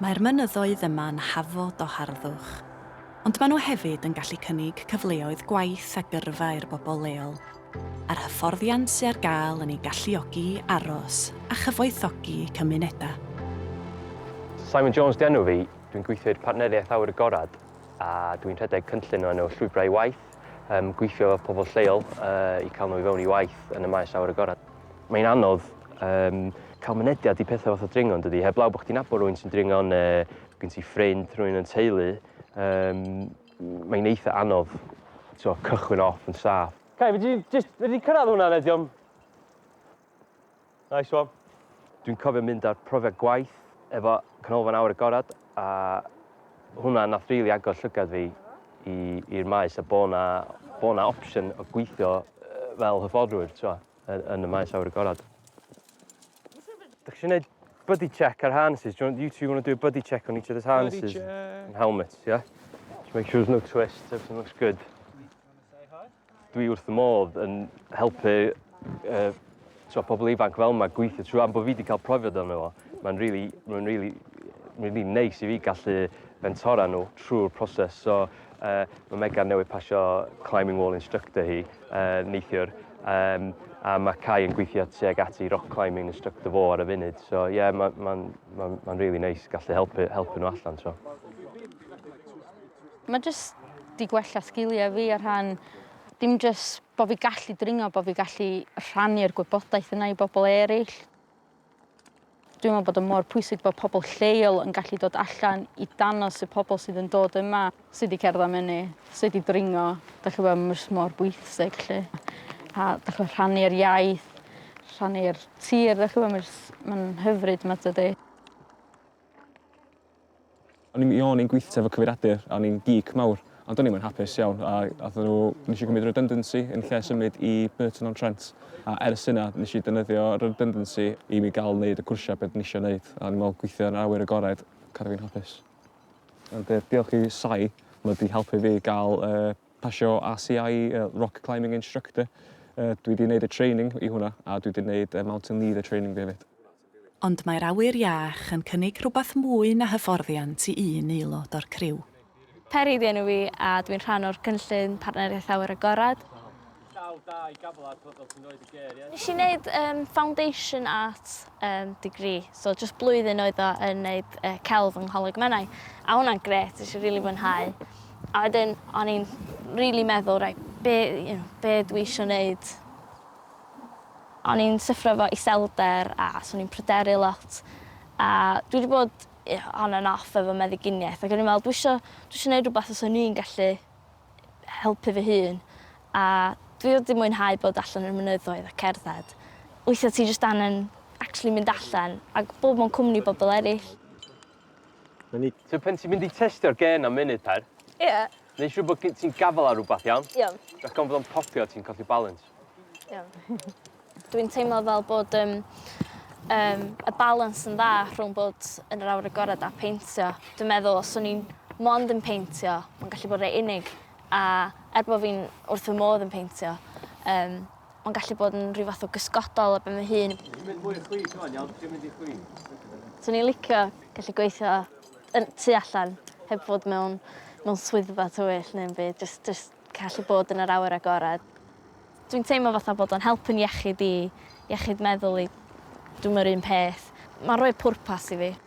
Mae'r mynyddoedd yma'n hafod o harddwch, ond maen nhw hefyd yn gallu cynnig cyfleoedd gwaith a gyrfa i'r bobl leol, a'r hyfforddiant sy ar gael yn eu galluogi i aros a chyfoethogi eu cymunedau. Simon Jones 'di enw fi, dwi'n gweithio i'r Partneriaeth Awyr Agored a dwi'n rhedeg cynllun o enw Llwybrau i Waith, gweithio efo pobl lleol i cael nhw i fewn i waith yn y maes awyr agored. Mae'n anodd um, cael mynediad i pethau fath o dringo yn dydy, heblaw bod chdi'n nabod rhywun sy'n dringo neu gen ti ffrind, rhywun yn teulu, um, mae'n eitha anodd so, cychwyn off yn saff. Cai, fe di cyrraedd hwnna nediom? Nice one. Dwi'n cofio mynd ar profiad gwaith efo canolfan awr agored A hwnna nath rili agor llygad fi i i'r maes a bo' 'na bo' 'na opsiwn o gweithio yy fel hyfforddwr t'mo' y- yn y maes awyr agored. Dach chi isio neud buddy check ar harnesses? Do you want... You two wanna do a buddy check on each other's harnesses? Buddy check. And helmets, yeah? Just make sure there's no twists, everything looks good. Wanna say hi? Dwi wrth fy modd yn helpu uh, so, pobl ifanc fel yma gweithio trwy am bod fi wedi cael profiad o'n efo. Mae'n really, mae'n really, really neis i fi gallu fentora nhw trwy'r proses. So, uh, mae Megan newydd pasio climbing wall instructor hi uh, neithiwr. Um, a mae Cai yn gweithio tuag ati rock climbing instructor fo ar y funud. So, ie, yeah, mae'n ma, ma, ma, ma really neis gallu helpu, helpu nhw allan. So. Mae jyst di gwella sgiliau fi ar rhan, dim jyst bod fi gallu dringo, bod fi gallu rhannu'r gwybodaeth yna i bobl eraill. Dwi'n meddwl bod yn mor pwysig bod pobl lleol yn gallu dod allan i danos y pobl sydd yn dod yma, sydd wedi cerdded mynu, sydd wedi dringo, da chi bod mor, mor bwysig lle. A da chi rhannu'r iaith, rhannu'r tir, da chi bod, mae'n hyfryd yma dydy. O'n i'n o'n i'n gweithio efo cyfeiriadur a o'n i'n geek mawr, ond o'n i'm yn hapus iawn a athyn nhw, nes i gymryd redundancy yn lle symud i Burton on Trent a ers yna nes i defnyddio redundancy i mi gael wneud y cwrsiau beth nes i wneud a o'n i'n meddwl gweithio yn awyr agored, cadw fi'n hapus. Ond uh, diolch i Sai, mae wedi helpu fi gael uh, pasio ACI, uh, Rock Climbing Instructor. Uh, dwi wedi gwneud y training i hwnna a dwi wedi gwneud uh, Mountain Leader training fi hefyd. Ond mae'r awyr iach yn cynnig rhywbeth mwy na hyfforddiant i un aelod o'r criw. Peri ydi enw fi a dwi'n rhan o'r cynllun Partneriaeth Awyr Agored. Nes i neud yym foundation art yym degree so jyst blwyddyn oedd o yn neud yy celf yng Ngholeg Menai a hwnna'n grêt nes i rili fwynhau a wedyn o'n i'n rili meddwl reit be' you know be' dwi isio neud O'n i'n syffro efo iselder a so o'n i'n pryderu lot a dwi 'di bod yy on and off efo meddyginiaeth ag o'n i'n me'wl dwi isio dwi isio neud rwbath fyswn i'n gallu helpu fy hun a dwi wedi mwynhau bod allan i'r mynyddoedd a cerdded. Weithia' ti jyst angen actually mynd allan ag bod mewn cwmni bobol eryll. 'Na ni. So pan ti'n mynd i testio'r gen am munud tair... Ie. Neu' siŵr bod gin ti'n gafal ar rwbath iawn? Iawn. Rag ofn fod o'n popio a ti'n colli balans. Iawn. Dwi'n teimlo fel bod yym yym y balans yn dda rhwng bod yn yr awyr agored a peintio. Dwi'n meddwl os o'n i'n mond yn peintio ma'n gallu bod rei unig a er bo' fi'n wrth fy modd yn peintio yym ma'n gallu bod yn rhyw fath o gysgodol ar ben fy hun. Dwi'n mynd mwy o chwith ŵan iawn dwi'n mynd i chwi. Swn i'n licio gallu gweithio yn tu allan heb fod mewn mewn swyddfa tywyll neu'm byd jyst jyst gallu bod yn yr awyr agored. Dwi'n teimlo fatha bod o'n helpu 'n iechyd i iechyd meddwl i. Dwi'm yr un peth. Ma'n rhoi pwrpas i fi.